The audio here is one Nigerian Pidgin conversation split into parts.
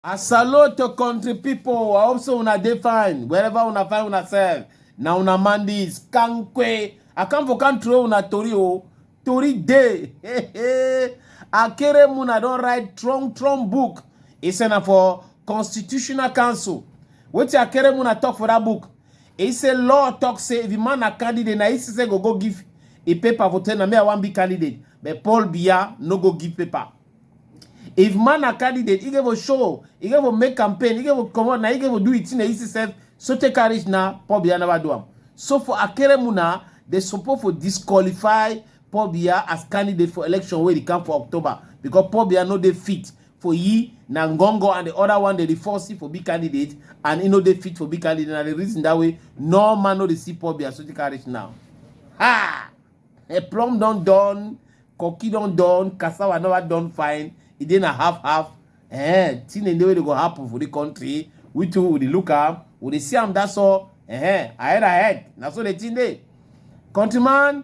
I salute to country people. I hope so una dey fine. Wherever una find una self. Na una man this. Kankwe. I come for country una tori o. Tori day. Akere Muna don write Trump Trump book. He send am for Constitutional Council. Wetin Akere Muna talk for that book? He say law talk say if the man na candidate, na ECC go go give a paper for tell na me I wan be candidate, but Paul Biya no go give paper. If man na candidate, he go show, he go make campaign, he go come out, na he go do it in the ECC, so take carriage na Paul Biya never do am. So for Akeremu na, they suppose for disqualify Paul Biya as candidate for election wey dey come for October because Paul Biya no dey fit for yi na ngongo and the other one dey dey force you for big candidate and e no dey fit for big candidate na the reason that way no man no dey see poor be associate carriage now ha a plum don done cocky don done cassava never done fine e dey na half half eh thing dey wey dey go happen for the country we too we dey look am we dey see am that's all eh ahead ahead na so the thing dey countryman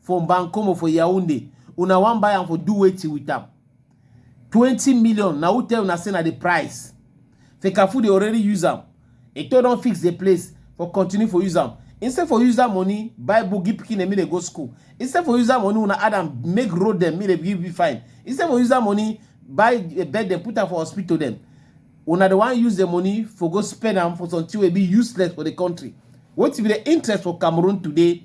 for Mbankomo for Yaoundé. Una wan buy am for do wetin with am? 20 million na who tell una say na the price? Fekafu dey already use am. Eto don fix the place for continue for use am. Instead for use that money buy book give pikin dem make dem go school. Instead for use that money una add am make road dem make dem give be fine. Instead for use that money buy eh, bed dem put am for hospital dem. Una dey wan use the money for go spend am for something wey be useless for the country. Wetin be the interest for Cameroon today?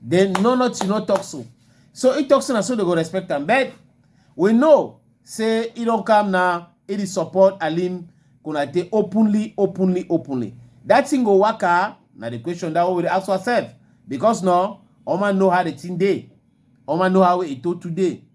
Then no not you no talk so. So he talks so and so they go respect him. But we know say he don't come now, he dey support Alim Konate openly, openly, openly. That thing go work out. Now the question that we ask ourselves. Because now, Oma know how the thing day. Oma know how it told today.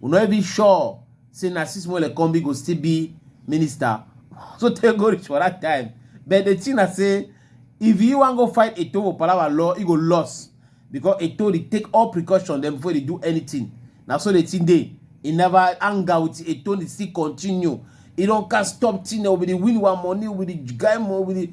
we no even sure say na sis mole kombi go still be minister so tey go reach for that time but the thing na say if you wan go fight eto for palava law you go loss because eto dey take all precaution dem before dey do anything na so the thing dey e never anger with eto dey still continue e don cast stop thing o be the win one money o be the guy mo o be the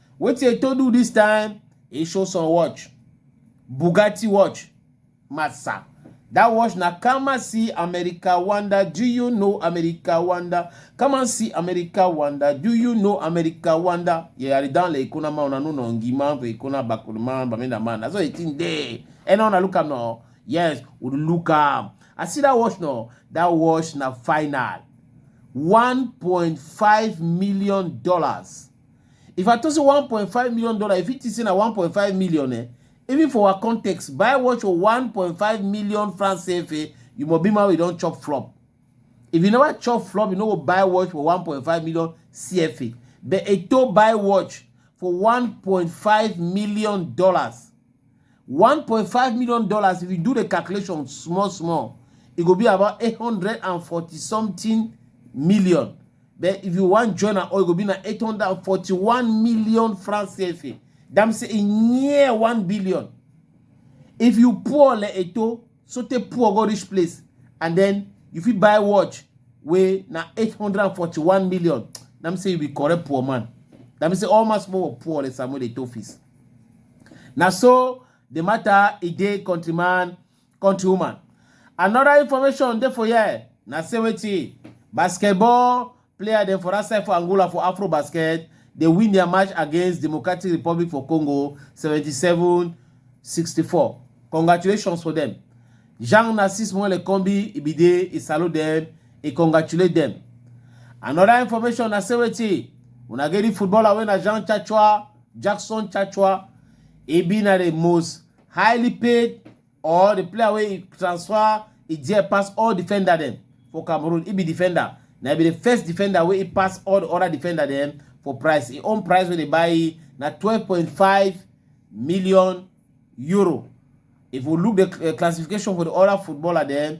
Wetin e to do this time? E show some watch. Bugatti watch. Massa. That watch na come and see America wonder. Do you know America wonder? Come and see America wonder. Do you know America wonder? Yeah, I don't like kuna ma unanu no ngima pe kuna bakulma bamenda man. That's what it in there. And on look am no. Yes, we look am. I see that watch no. That watch na final. 1.5 million dollars. If I talk say one point five million dollar, if you think say na one point five million eh, even for our context, buy watch for one point five million francs CFA, you must be man wey don chop flop. If you never chop flop, you no go buy watch for one point five million CFA. But Eto buy watch for one point five million dollars. one point five million dollars if you do the calculation small small e go be about eight hundred and forty something million But if you wan join am all, e go be na 841 million francs CFA. That means e near 1 billion. If you poor le eto, so te poor go rich place, and then you fit buy watch wey na 841 million. That means you be correct poor man. That means all mass poor poor le Samuel Eto'o office. Na so the matter e dey countryman country woman. Another information dey for here na say wetin basketball player dem for that side for Angola for Afro Basket dey win their match against Democratic Republic for Congo 77-64. Congratulations for them. Jean Narcisse Mwele Kombi e be dey e salute them e congratulate them. Another information na say wetin una get the footballer wey na Jean Chachua Jackson Chachua e be na the most highly paid or the player wey e transfer e there pass all defender dem for cameroon e be defender na e be the first defender wey e pass all the other defender dem for price e own price wey dey buy e na 12.5 million euro if we look the uh, classification for the other footballer dem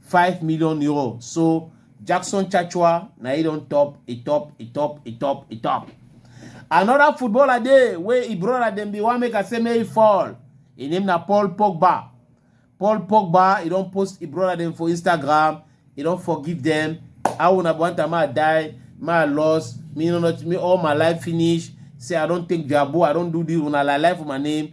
five million euro so jackson chachua na e don top e top e top e top e top another footballer dey wey e brother dem bin wan make i say make e fall e name na paul pogba paul pogba e don post e brother dem for instagram e don forgive dem how una want am i die my loss me no not me all my life finish say i don take jabu i don do this una like life for my name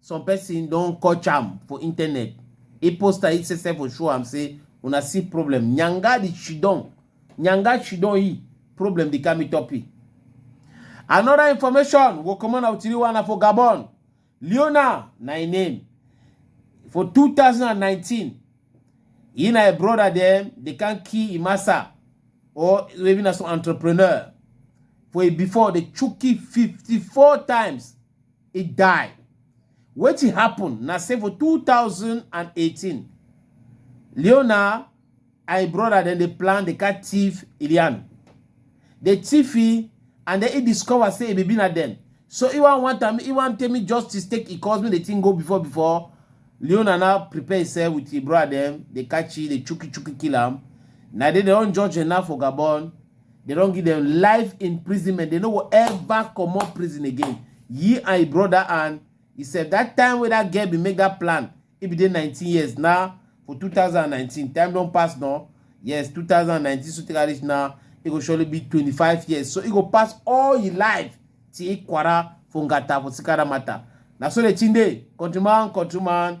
some person don catch am for internet e post am e say sef show am say una see problem nyanga di chidon nyanga chidon e problem di kami topi another information go comot na tiri one na for gabon leona na im name for 2019 he na im brother dem dey can kill im massa or even as an entrepreneur for e before dey chuki 54 times e die. Wetin happen na say for 2018, Leonard and im brother dem dey plan dey catch thief Ilian. Dey thief e and then e discover say e be na dem. So e wan want am, e wan tell me justice take e cause make the thing go before before. Leonard now prepare himself with im brother dem, dey catch e, dey chuki chuki kill am. Na dey dem don judge dem now for Gabon. They don't give them life imprisonment. They no go ever comot prison again. Ye and your brother and he said that time wey that girl bin make that plan, e bin dey 19 years now for 2019. Time don pass now. Yes, 2019 so take am reach now. E go surely be 25 years. So e go pass all your life till Ikwara for Ngata for Sikara matter. Na so the thing dey. Countryman, countryman.